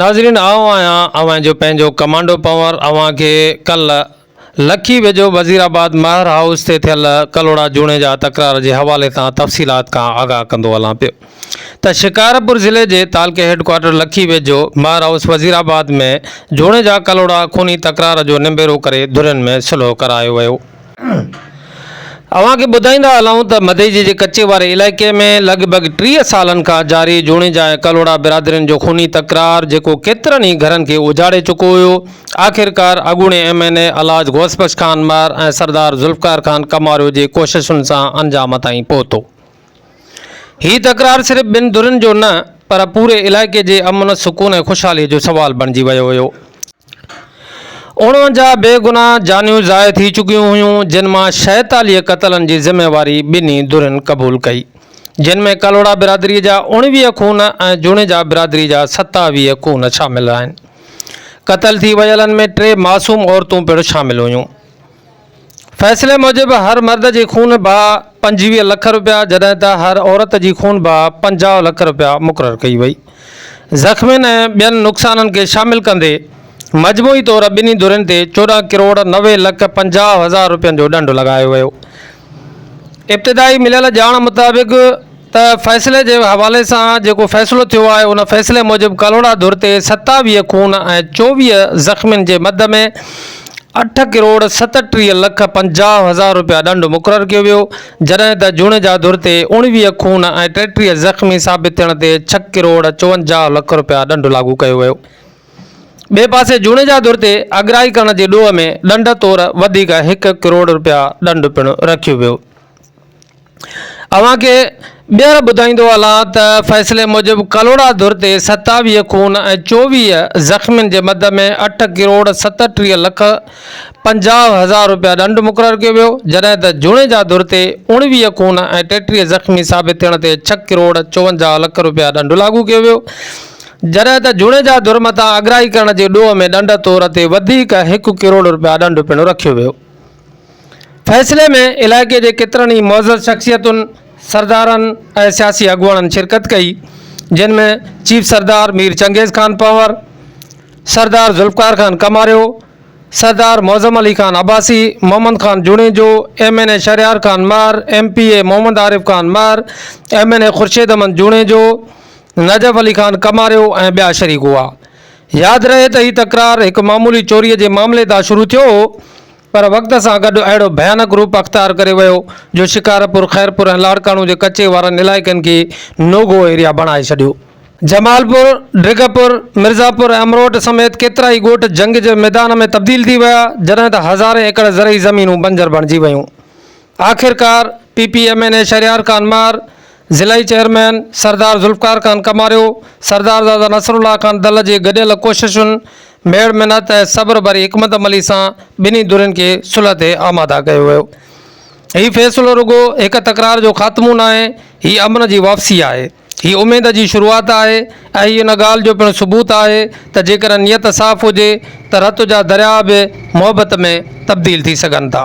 ناظرين آئون آهيان اوهان جو پنهنجو ڪمانڊو پنور اوهان کي ڪلهه لکي ويجهو وزير آباد مهر هائوس تي ٿيل ڪلهوڙا جوڻيجا تڪرار جي حوالي سان تفصيلات کان آگاهه ڪندو هلان پيو ته شڪارپور ضلعي جي تعلقي هيڊڪوارٽر لکي ويجهو مهر هائوس وزير آباد ۾ جوڻيجا ڪلهوڙا خوني تڪرار جو نبيرو ڪري ڌرين ۾ صلح ڪرايو ويو. اوهان کي ٻڌائيندا هلون ته مديجي جي ڪچي واري علائقي ۾ لڳ ڀڳ ٽيهه سالن کان جاري جوڻيجا ۽ ڪلهوڙا برادرين جو خوني تڪرار جيڪو ڪيترن ئي گهرن کي اجاڙي چڪو هيو آخرڪار اڳوڻي ايم اين اي الاج غوث بخش خان مار ۽ سردار ذوالفقار خان ڪماريو جي ڪوششن سان انجام تائين پهتو. هي تڪرار صرف ٻن ڌرين جو نه پر پوري علائقي جي امن، سڪون ۽ خوشحالي جو سوال بڻجي ويو هيو. اڻونجاهه بي گناهه جانيون ضايع ٿي چڪيون هيون جن مان شيطاليهه قتلن جي ذميواري ٻنهي ڌرين قبول ڪئي جن ۾ ڪلهوڙا برادري جا اڻويهه خون ۽ جوڻيجا برادري جا ستاويهه خون شامل آهن. قتل ٿي ويلن ۾ ٽي معصوم عورتون پڻ شامل هيون. فيصلي موجب هر مرد جي خون بهاء پنجويهه لک رپيا جڏهن ته هر عورت جي خون بهاء پنجاهه لک رپيا مقرر ڪئي وئي. زخمين ۽ ٻين نقصانن کي شامل ڪندي مجموعي طور ٻنهي ڌرين تي چوڏهن ڪروڙ نوي لک پنجاهه هزار رپين جو ڏنڊ لڳايو ويو. ابتدائي مليل ڄاڻ مطابق، ته فيصلي جي حوالي سان جيڪو فيصلو ٿيو آهي ان فيصلي موجب ڪلهوڙا ڌر تي ستاويهه خون ۽ چوويهه زخمين جي مد ۾ اٺ ڪروڙ ستٽيهه لک پنجاهه هزار رپيا ڏنڊ مقرر ڪيو ويو جڏهن ته جوڻيجا ڌر تي اوڻويهه خون ۽ ٽيٽيهه زخمي ثابت ٿيڻ تي ڇهه ڪروڙ چونجاهه لک رپيا ڏنڊ لاڳو ڪيو ويو ٻئي پاسي جوڻيجا ڌر تي اڳرائي ڪرڻ جي ڏوهه ۾ ڏنڊ طور وڌيڪ هڪ ڪروڙ رپيا ڏنڊ پڻ رکيو ويو اوهان کي ٻيهر ٻڌائيندو هلان ته فيصلي موجب ڪلهوڙا ڌر تي ستاويهه خون ۽ چوويهه زخمين جي مد ۾ اٺ ڪروڙ ستٽيهه لک پنجاهه هزار رپيا ڏنڊ مقرر ڪيو ويو جڏهن ته جوڻيجا ڌر تي اوڻويهه خون ۽ ٽيٽيهه زخمي ثابت ٿيڻ تي ڇهه ڪروڙ چوونجاهه لک رپيا ڏنڊ لاڳو ڪيو ويو جڏهن ته جوڻيجا ڌر مٿان اڳرائي ڪرڻ جي ڏوهه ۾ ڏنڊ طور تي وڌيڪ هڪ ڪروڙ رپيا ڏنڊ پڻ رکيو ويو فيصلي ۾ علائقي جي ڪيترن ئي معزز شخصيتن، سردارن ۽ سياسي اڳواڻن شرڪت ڪئي، جن ۾ chief Sardar Mir Changez Khan Panhwar, Sardar Zulfiqar Khan Kamario, Sardar Moazzam Ali Khan Abbasi, Muhammad Khan Junejo, M N A Shehryar Khan Mahar, M P A Muhammad Arif Khan Mahar, M N A Khurshid Ahmed Junejo, Najaf Ali Khan Kamario ۽ ٻيا شريڪ هئا. ياد رهي ته هي تڪرار هڪ معمولي چوريء جي معاملي تان شروع ٿيو هو پر وقت سان گڏ اهڙو ڀيانڪ روپ اختيار ڪري ويو جو شڪارپور، خيرپور ۽ لاڙڪاڻو جي ڪچي وارن علائقن کي نو گو ايريا بڻائي ڇڏيو. جمال پور، ڊگهه پور، مرزا پور ۽ امروٽ سميت ڪيترائي ڳوٺ جنگ جي ميدان ۾ تبديل ٿي ويا جڏهن ته هزارين ايڪڙ زرعي زمينون بنجر بڻجي ويون. آخرڪار P P M N A Shehryar Khan Mahar, ضلعي چيئرمين سردار ذوالفقار خان ڪماريو، سردارزاده نصر الله خان دل جي گڏيل ڪوششن، ميڙ منت ۽ صبر ڀري حڪمت عملي سان ٻنهي ڌرين کي صلح تي آماده ڪيو ويو. هي فيصلو رڳو هڪ تڪرار جو خاتمو ناهي، هي امن جي واپسي آهي. هي اميد جي شروعات آهي ۽ هي ان ڳالهه جو پڻ ثبوت آهي ته جيڪڏهن نيت صاف هجي ته رت جا درياء به محبت ۾ تبديل ٿي سگهن ٿا.